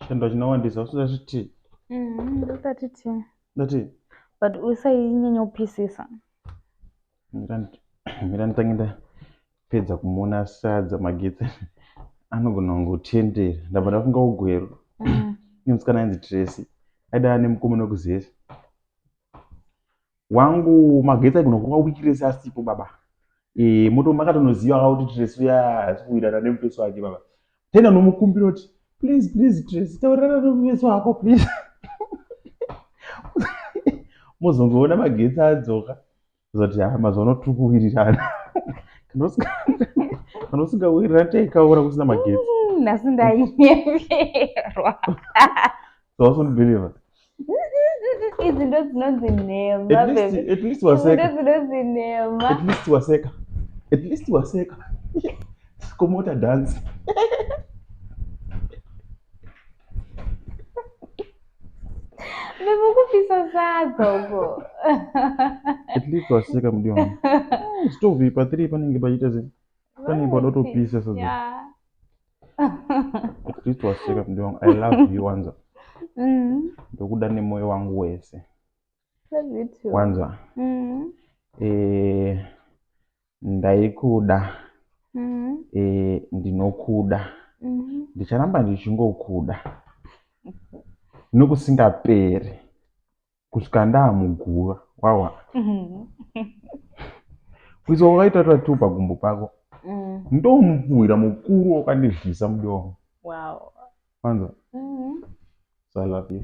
Chendo chinowandisa usida zviti. Mhm, ndati ti. Ndati. But usainyanya kupisisa. Mira nditange ndapedza kumuona asadza magetsi anogona kunge kutendera ndabva ndafunga ugweru mm. nemusikana ainzi Tracy aida ane mukomana wekuzesa wangu magetsi aigona kuva wiki rese asipo baba e, moto makatonoziva ka kuti tresu yasikuwirana nemupeso wake baba tenda nomukumbira kuti please please tresu taurirana nomupeso wako please mozongoona magetsi adzoka zoti ha mazuva tiri kuwirirana kana usingawirirana taikaura kusina magetsi mm, nhasi ndainyepera so wasondibelieve idzi ndo dzinonzi nhema dzinonzi nhema at least waseka at least waseka komota dance vekukupisa sadza uko at least waseka mudiwa zvitovipa three panenge pachiita zii Kani bodo to peace so. Yeah. Kristu waseka mntu wangu. I love you wanza. Mm. Ndokuda nemoyo wangu wese. Love you too. Wanza. Mm. Eh ndaikuda. Mm. Eh ndinokuda. Mm. Ndicharamba ndichingokuda. Nokusingaperi. kusvika ndaamuguva wawa kuisa wakaita tatu pagumbo pako mm. ndomupfuhwira mukuru wakandidlisa mudomo wow. anza mm -hmm. so i love you